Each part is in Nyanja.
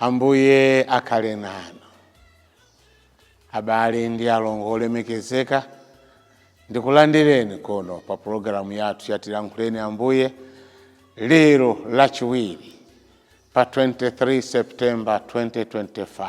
Ambuye akhale nanu. Abale ndi alongo olemekezeka, ndikulandireni kono pa pulogalamu yathu ya Tilankhuleni Ambuye lero Lachiwiri pa 23 September 2025.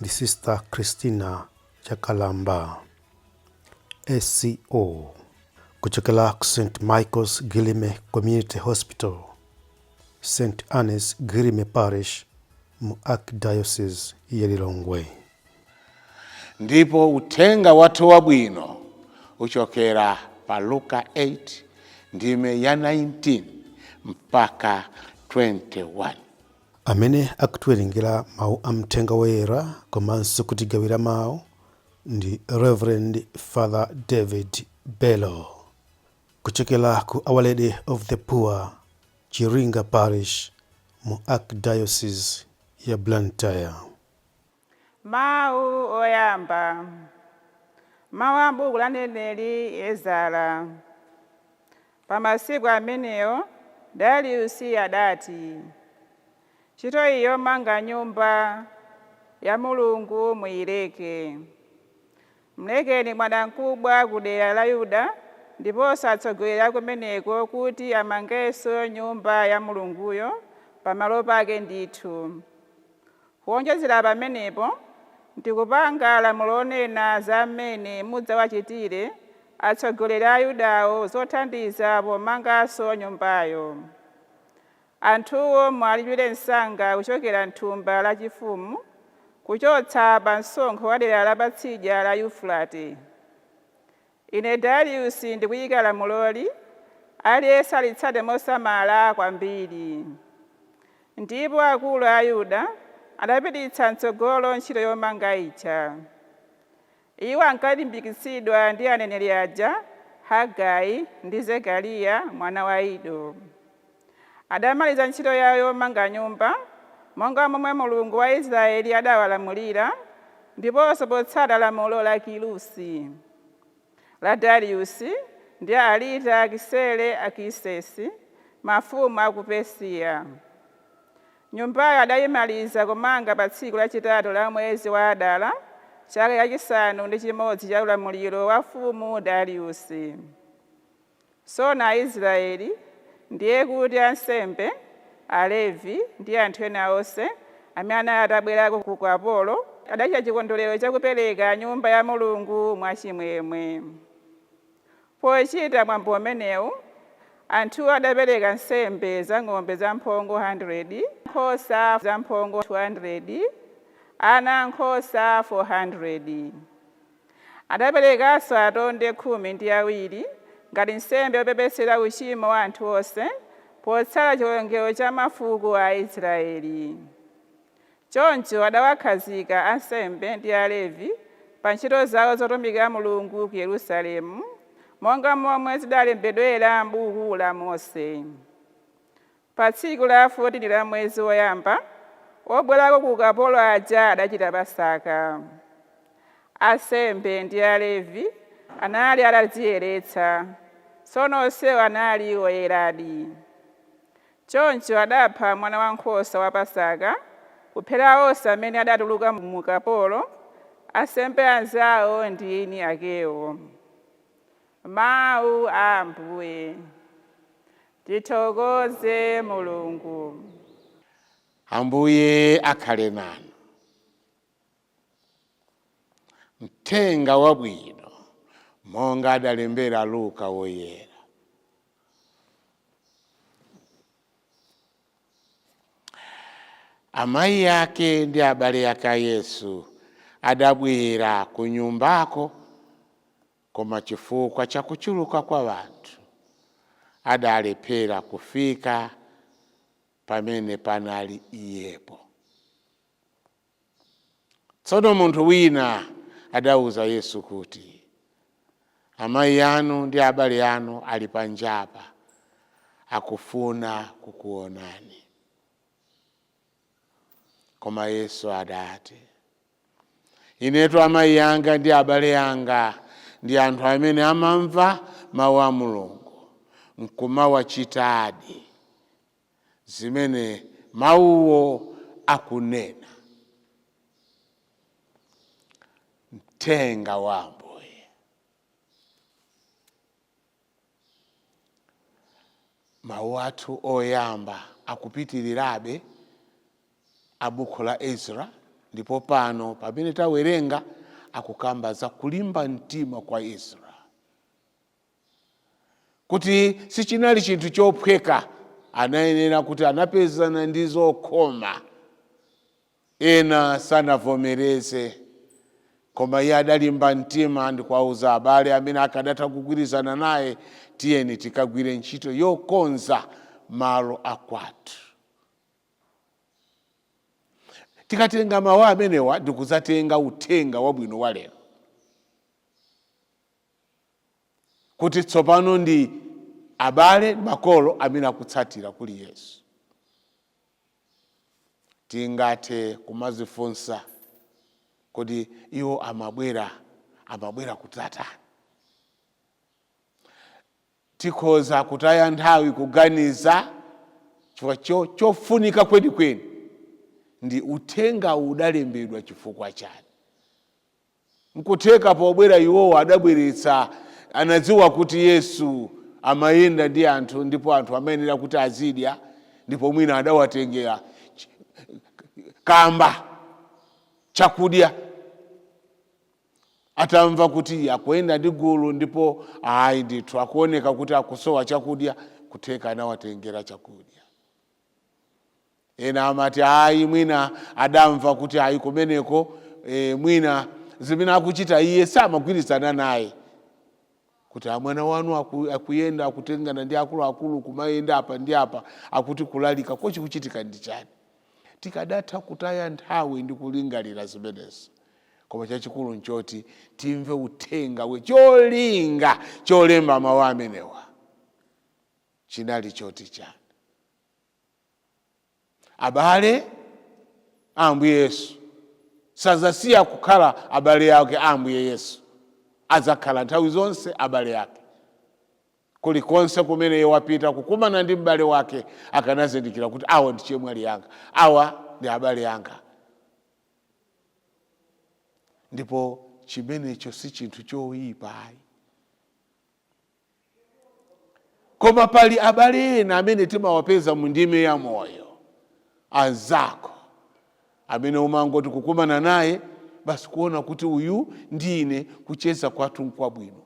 ndi Sister Christina Chakalamba, SCO, kuchokera ku St Michael's Guilleme Community Hospital, St Anne's Guilleme Parish mu Archdiocese ya Lilongwe. Ndipo uthenga wathu wabwino uchokera pa Luka 8 ndime ya 19 mpaka 21. Amene akutiwerengera mau a Mthenga Woyera komanso kutigawira mau ndi Reverend Father David Bello kuchokera ku Our Lady of the Poor Chiringa Parish mu Archdiocese ya Blantyre. Mawu oyamba, mawu a m'buku la mneneri Ezara. Pa masiku amenewo Dariusi adati, Ntchito yomanga Nyumba ya Mulungu muileke. Mlekeni bwanamkubwa ku dera la Yuda ndiponso atsogoleri a kumeneko kuti amangenso Nyumba ya Mulunguyo pamalo pake ndithu. Kuwonjezera pamenepo, ndikupanga lamulo lonena za mmene mudzawachitire atsogoleri a Ayudawo zothandiza pomanganso nyumbayo. Anthuwo muwalipiire msanga kuchokera m'thumba lachifumu, kuchotsa pa msonkho wa dera la patsidya la Yufurate. Ine Dariusi ndikuyika lamuloli, aliyense alitsate mosamala kwambiri. Ndipo akulu a Ayuda adapititsa m'tsogolo ntchito yomanga ija. Iwo ankalimbikitsidwa ndi aneneri aja Hagai ndi Zekariya mwana wa Ido. adamaliza ntchito yao yomanga nyumba, monga momwe Mulungu wa Israyeli adawalamulira, ndiponso potsata lamulo la Kirusi, la Dariusi, ndi Aritakisereakisesi, mafumu a ku Persiya. Nyumbayo adaimaliza kumanga pa tsiku lachitatu la mwezi wa Adara, chaka chachisanu ndi chimodzi cha ulamuliro wa mfumu Dariusi. Tsono Aisraeli, ndiye kuti ansembe, Alevi ndi anthu ena onse amene anali atabwerako ku ukapolo, adachita chikondwerero cha kupereka Nyumba ya Mulungu mwachimwemwe. Pochita mwambo umenewu, anthuwo adapereka nsembe za ng'ombe zamphongo 100, nkhosa zamphongo 200, ana ankhosa 400. Adaperekanso atonde khumi ndi awiri ngati nsembe yopepesera uchimo wa anthu onse, potsata chiwerengero cha mafuko a Aisraeli. Choncho adawakhazika ansembe ndi Alevi pa ntchito zao zotumikira Mulungu ku Yerusalemu, monga momwe zidalembedwera m'buku la Mose. Pa tsiku la 14 la mwezi woyamba, obwerako ku ukapolo aja adachita Pasaka. Ansembe ndi Alevi anali atadziyeretsa, tsono onsewo anali oyeradi. Choncho adapha mwanawankhosa wa Pasaka, kuphera onse amene adatuluka mu ukapolo, ansembe anzao ndi eni akewo. Mau a Ambuye. Tithokoze Mulungu. Ambuye akhale nanu. Mthenga wabwino monga adalembera Luka Woyera. Amayi ake ndi abale ake a Yesu adabwera ku nyumbako Koma chifukwa cha kuchuluka kwa wanthu, adalephera kufika pamene panali Iyepo. Tsono munthu wina adauza Yesu kuti, Amai anu ndi abale anu ali panjapa, akufuna kukuwonani. Koma Yesu adati, Inetu amayi anga ndi abale anga ndi anthu amene amamva mawu a Mulungu nkumawachitadi, zimene mawuwo akunena. Mthenga wa Ambuye. mawu athu oyamba akupitirirabe a buku la Ezra ndipo pano pamene tawerenga akukamba za kulimba mtima kwa Ezra kuti sichinali chinthu chophweka anayenera kuti anapezana ndi zokhoma Ena sanavomereze, koma iye adalimba mtima ndi kuwauza abale amene akadatha kugwirizana naye, Tiyeni tikagwire ntchito yokonza malo akwathu. Tikatenga mawu amenewa ndi kudzatenga uthenga wabwino wa lero, kuti tsopano ndi abale ndi makolo amene akutsatira kuli Yesu. tingathe kumazifunsa kodi iwo amabwera amabwera kutani tikhoza kutaya nthawi kuganiza chifukwa cho- chofunika kwenikweni ndi uthenga udalembedwa chifukwa chani Nkutheka pobwera iwowo adabweretsa, anadziwa kuti Yesu amayenda ndi anthu ndipo anthu amayenera kuti azidya ndipo mwina adawatengera kamba chakudya atamva kuti akuyenda ndi gulu ndipo ayi ndithu akuoneka kuti akusowa chakudya, nkutheka anawatengera chakudya. Ena amati, Ayi, mwina adamva kuti ayi kumeneko, e, mwina zimene akuchita iye samagwirizana naye. Kuti a mwana wanu aku, akuyenda akutengana ndi akuluakulu kumayenda apa ndi apa akuti kulalika kodi chikuchitika ndi chani? Tikadatha kutaya nthawi ndi kulingalira zimenezi. Koma chachikulu nchoti timve uthenga we cholinga cholemba mawu amenewa chinali choti chani. abale a ambuye yesu sazasiya kukhala abale ake a ambuye yesu adzakhala nthawi zonse abale ake kulikonse kumene iye wapita kukumana ndi m'bale wake akanazindikira kuti awa ndi chemwali yanga awa ndi abale anga ndipo chimenecho si chinthu choyipa ayi koma pali abale ena amene timawapeza mu ndime ya moyo anzako amene umangoti kukumana naye basi kuona kuti uyu ndi ine kucheza kwathu nkwabwino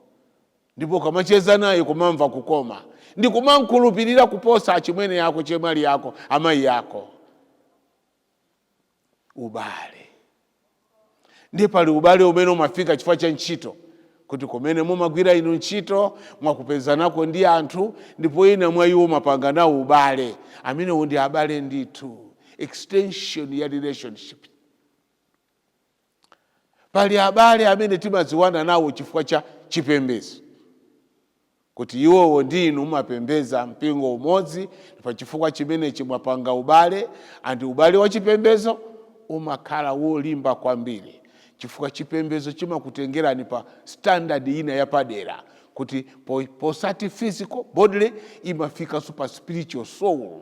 ndipo ukamacheza naye kumamva kukoma ndi kumamkhulupirira kuposa achimwene yako chemwali yako amayi yako ubale ndiye pali ubale umene umafika chifukwa cha ntchito kuti kumene mumagwira inu ntchito mwakapezanako ndi anthu ndipo ena mwa iwo mapanga nawo ubale amenewo ndi abale ndithu extension ya relationship Pali abale amene timadziwana nawo chifukwa cha chipembedzo, kuti iwowo ndi inu mumapembedza mpingo umodzi, pa chifukwa chimenechi mwapanga ubale, and ubale wa chipembedzo umakhala wolimba kwambiri chifukwa chipembedzo chimakutengerani pa standard ina yapadera kuti posati physical bodily imafikanso pa spiritual soul.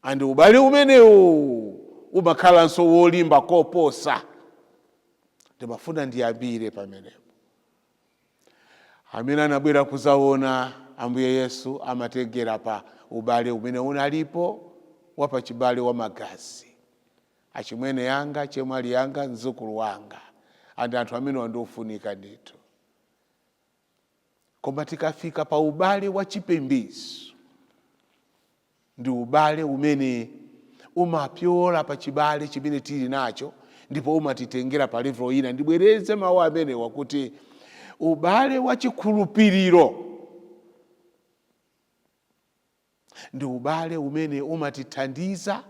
And ubale umenewu umakhalanso wolimba koposa. Ndimafuna ndiyambire pamenepo. Amene anabwera kuzaona Ambuye Yesu amatengera pa ubale umene unalipo wapachibale wa magazi. Achimwene yanga, chemwali yanga, mzukulu wanga, and anthu amene wa ndi ofunika ndithu. koma tikafika pa ubale wa chipembedzo ndi ubale umene umapyola pa chibale chimene tili nacho ndipo umatitengera pa level ina ndibwereze mawu amenewa kuti ubale wa chikhulupiriro ndi ubale umene umatithandiza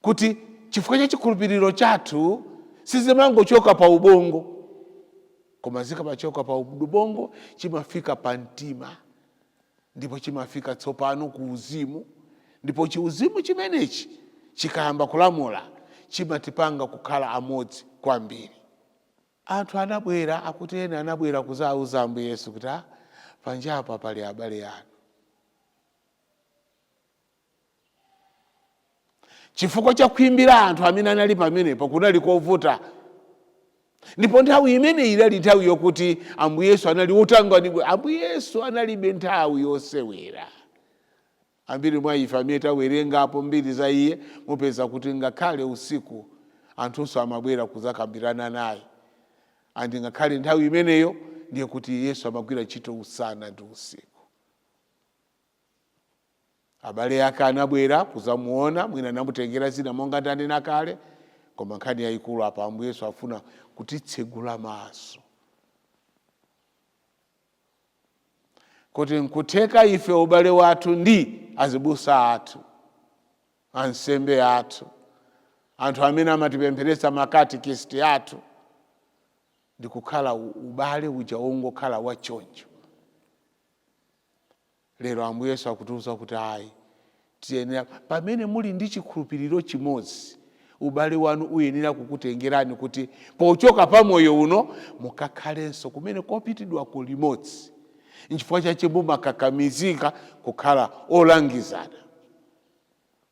kuti chifukwa cha chikhulupiriro chathu sizimangochoka pa ubongo koma zikamachoka pa ubongo chimafika pa mtima ndipo chimafika tsopano ku uzimu ndipo chiuzimu chimenechi chikayamba kulamula chimatipanga kukhala amodzi kwambiri anthu anabwera akuti ena anabwera kuzauza ambuye yesu kuti "Ah, panjapa pali abale anu chifukwa cha khwimbi la anthu amene anali pamenepo kunali kovuta ndipo nthawi imeneyi inali nthawi yokuti ambuye yesu anali wotangwanidwa ambuye yesu analibe nthawi yosewera ambiri mwa ife amene tawerengapo mbiri za iye mupeza kuti ngakhale usiku anthunso amabwera kuzakambirana naye andi ngakhale nthawi imeneyo ndiye kuti yesu amagwira ntchito usana ndi usiku abale ake anabwera kuzamuona mwina anamutengera zina monga ndanena kale koma nkhani yayikulu apa ambuye yesu afuna kutitsegula maso kuti nkutheka ife ubale wathu ndi azibusa athu ansembe athu anthu amene amatipempheresa makatikisiti athu ndikukhala ubale uja wongokhala wachoncho Lero Ambuye Yesu akutiuza kuti ayi, tiyenera, pamene muli ndi chikhulupiliro chimodzi, ubale wanu uyenera kukutengerani kuti pochoka pa moyo uno mukakhalenso kumene kopitidwako limodzi. Nchifukwa chache mumakakamizika kukhala olangizana.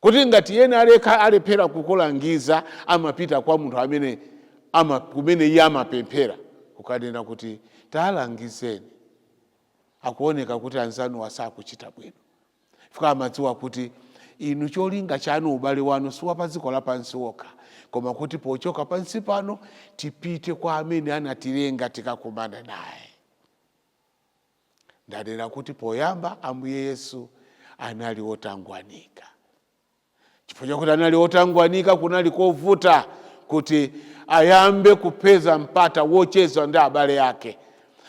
kuti ngati iyeyo aleka alephera kukulangiza amapita kwa munthu amene ama, kumene iye amapemphera kukanena kuti talangizeni akuoneka kuti anzanuwa sakuchita bwino chifukwa amadziwa kuti inu cholinga chanu ubale wanu si wa pa dziko lapansi wokha koma kuti pochoka pansi pano tipite kwa amene anatilenga tikakumana naye ndanena kuti poyamba ambuye yesu anali wotangwanika chifukwa chakuti anali wotangwanika kunali kovuta kuti ayambe kupeza mpata wocheza ndi abale ake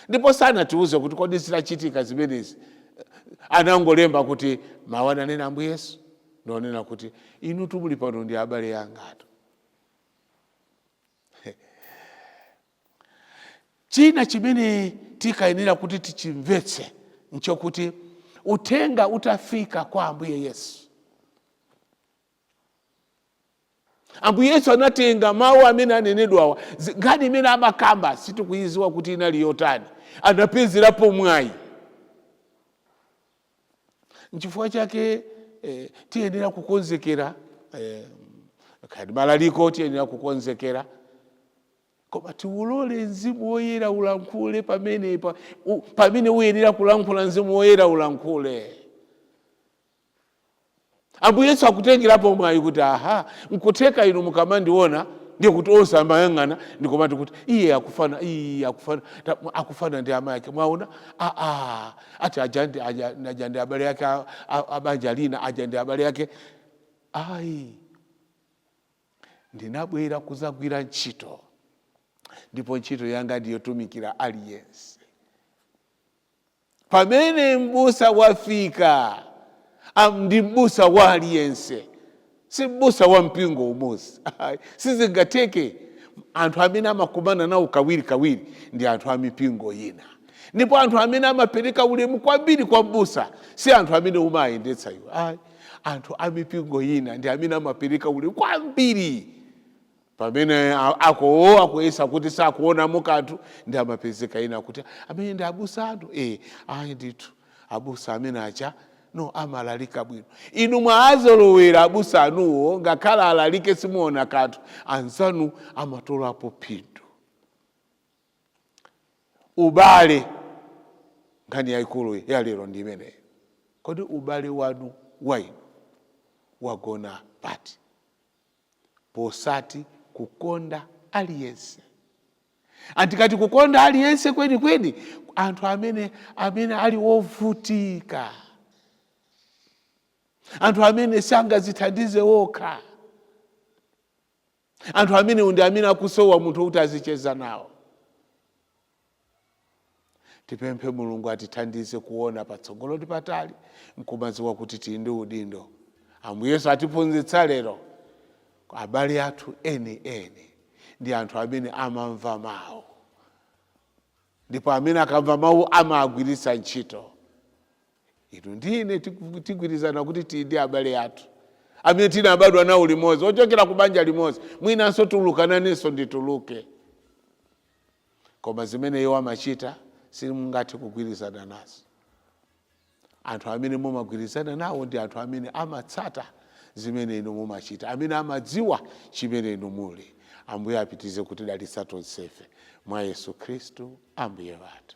ndipo sanatiuze kuti kodi zitachitika zimenezi anangolemba kuti mawu ananena ambuye yesu ndi wonena kuti inu tumuli pano ndi abale angatu China chimene tikuyenera kuti tichimvetse nchokuti uthenga utafika kwa Ambuye Yesu, Ambuye Yesu anatenga mawu amene anenedwawa, zi- nkhani imene amakamba sitikuidziwa kuti inali yotani, anapezerapo mwayi Nchifukwa chake eh, tiyenera kukonzekera eh, kaya ndi malaliko tiyenera kukonzekera koma tiulole mzimu woyera ulankhule pamene pa, u, pamene uyenera kulankhula mzimu woyera ulankhule ambuye yesu akutengerapo mwayi kuti aha nkutheka inu mukamandiona ndiye kuti onse amayang'ana ndi kumati kuti iye akufana iye akufana ta- akufana ndi amayi ake mwaona aa ati aja ndi- aja- aja ndi abale ake a- a- abanja lina aja ndi abale ake ayi ndinabwera kudzagwira ntchito ndipo ntchito yanga ndiyotumikira aliyense pamene m'busa wafika am, ndi m'busa wa aliyense si m'busa wa mpingo umodzi Ayi, sizingatheke anthu amene amakumana nawo kawirikawiri ndi anthu a mipingo ina ndipo anthu amene amapereka ulemu kwambiri kwa m'busa si anthu amene umayendetsa iwe Ayi, anthu a mipingo ina ndi amene amapereka ulemu kwambiri pamene ako akuyesa kuti sakuonamo kanthu nde amapezeka ena kuti amene ndi abusa anu e, eh, ayi ndithu abusa amene aja no amalalika bwino inu mwaazolowera abusa anuwo ngakhale alalike simuona kanthu anzanu amatolapo phindu ubale nkhani yayikulu yalero ndi imeneyo kodi ubale wanu wainu wagona pati posati kukonda aliyense ndikati kukonda aliyense kweni kweni anthu amene amene ali wovutika anthu amene sangazithandize wokha anthu amene ndi amene akusowa munthu wokuti azicheza nawo Tipemphe Mulungu atithandize kuona patsogolo ndi patali nkumadziwa kuti tili ndi udindo. Ambuye Yesu atiphunzitsa lero abale athu eni eni ndi anthu amene amamva mawu ndipo amene akamva mawu amagwiritsa ntchito. Inu ndi ine tigwirizana kuti tili ndi abale athu amene tinabadwa nawo limodzi ochokera ku banja limodzi mwinanso tulukananenso ndituluke koma zimene iwo amachita simungathe kugwirizana nazo anthu amene mumagwirizana nawo ndi anthu amene amatsata zimene inu mumachita amene amadziwa chimene inu muli ambuye apitize kutidalitsa tonsefe mwa yesu khristu ambuye wathu